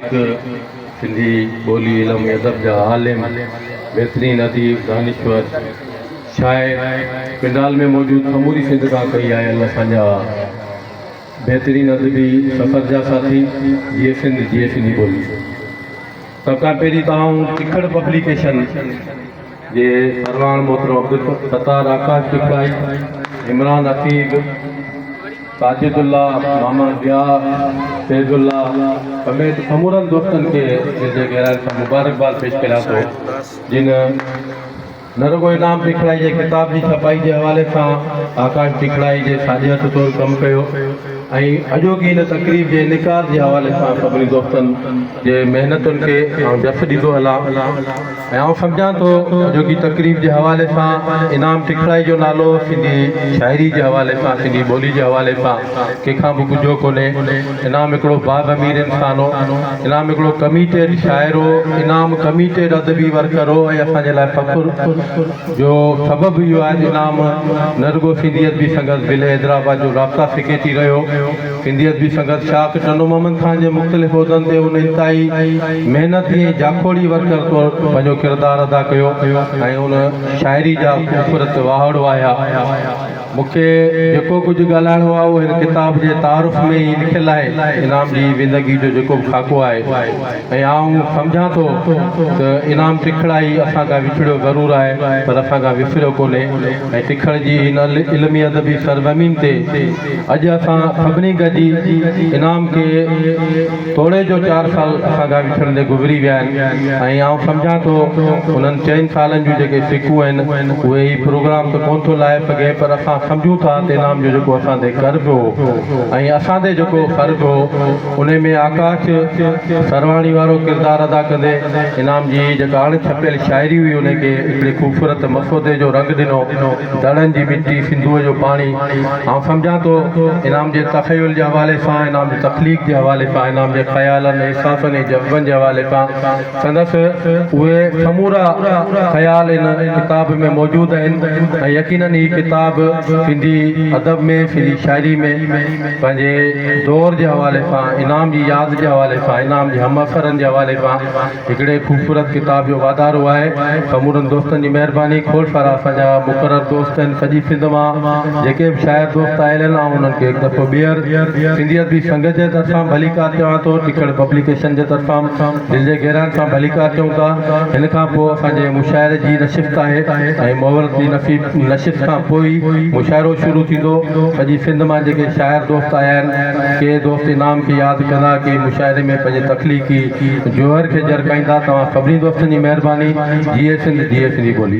هڪ سنڌي ٻولي، علم ۽ ادب جا عالم، بهترين اديب، دانشور، شاعر پنڊال ۾ موجود سموري سنڌ کان ڪهي آيل اسان جا بهترين ادبي سفر جا ساٿي، جيئي سنڌ جيئي سنڌي ٻولي. سڀ کان پهرين ته آئون تکڙ پبليڪيشن. جي سرواڻ محترم عبدالستار آڪاش ڏکڙائي، عمران عقيد، ساجد الله، ماما ضياء، فيض الله سميت سمورن دوستن کي دل جي گهراين کان مبارڪباد پيش ڪريان ٿو جن نه رڳو انعام ڏکڙائي جي ڪتاب جي ڇپائي جي حوالي سان آڪاش ڏکڙائي جي ساڄي هٿ طور ڪم ڪيو ۽ اڄوڪي هن تقريب جي انعقاد جي حوالي سان سڀني دوستن جي محنتن کي آئون جس ڏيندو هلان. ۽ آئون سمجهان ٿو جو ڪي تقريب جي حوالي سان انعام ٽکڙائي جو نالو سنڌي شاعري جي حوالي سان سنڌي ٻولي جي حوالي سان ڪنهن کان به ڳجهو ڪونهي انعام هڪڙو باغ امير انسان هو انعام هڪڙو ڪميٽيڊ شاعر هو انعام ڪميٽيڊ ادبي ورڪر هو ۽ اسان جي لاء فخر جو سبب اهو آهي انعام نه رڳو سنڌيت به سنگس ضلعي حيدرآباد جو رابطا سيڪريٽري رهيو سنڌي ادبي سنگت شاخ چنو محمد خان جي مختلف عهدن تي ان انتهائي محنتي ۽ جاکوڙي ورڪر طور پنهنجو ڪردار ادا ڪيو ۽ ان شاعري جا خوبصورت واهڙ واهيا. مون کي جيڪو ڪجهه ڳالهائڻو آهي اهو هن ڪتاب جي تعارف ۾ ئي لکيل آهي. انعام جي زندگي جو جيڪو به خاڪو آهي ۽ آئون سمجهان ٿو ته انعام ٽکڙائي اسان کان وڇڙيو ضرور آهي پر اسان کان وسريو ڪونهي ۽ ٽکڙ جي هن علمي ادبي سرزمين تي اڄ اسان سڀني گڏجي انعام کي توڙي جو چار سال اسان کان وڇڙندي گذري ويا آهن ۽ آئون سمجهان ٿو انهن چئن سالن جون جيڪي سڪون آهن اهي هي پروگرام ته ڪونه ٿو لاهي سگهي پر اسان سمجهون ٿا ته انعام جو جيڪو اسان تي قرض هو ۽ اسان تي جيڪو فرض هو انهي ۾ آڪاش سرواڻي وارو ڪردار ادا ڪندي انعام جي جيڪا اڻ ڇپيل شاعري هئي انهي کي هڪڙي خوبصورت مسودي جو رنگ ڏنو. دڙن جي مٽي، سنڌوء جو پاڻي، آئون سمجهان ٿو انعام جي تخيل جي حوالي سان، انعام جي تخليق جي حوالي سان، انعام جي خيالن، احساسن ۽ جذبن جي حوالي سان سندس اهي سمورا خيال هن ڪتاب ۾ موجود آهن ۽ يقينن هي ڪتاب سنڌي ادب ۾ سنڌي شاعري ۾ پنهنجي دور جي حوالي سان، انعام جي ياد جي حوالي سان، انعام جي همعصرن جي حوالي سان، هڪڙي خوبصورت ڪتاب جو واڌارو آهي سمورن دوستن جي مهرباني کوڙ سارا اسان جا مقرر دوست آهن سڄي سنڌ مان جيڪي به شاعر دوست آيل آهن آئون انهن کي هڪ دفعو ٻيهر سنڌي ادبي سنگت جي طرفان ڀليڪار چوان ٿو ٽکڙ پبليڪيشن جي طرفان دل جي گهرائن سان ڀليڪار چئون ٿا هن کان پوء اسان جي مشاعري جي نشست آهي ۽ محولت جي نشست کان پوء ئي مشاعرو شروع ٿيندو سڄي سنڌ مان جيڪي شاعر دوست آيا آهن ڪي دوست انعام کي ياد ڪندا ڪي مشاعري ۾ پنهنجي تخليقي جوهر کي جرڪائيندا توهان سڀني دوستن جي مهرباني جيئي سنڌ جيئي سنڌي ٻولي.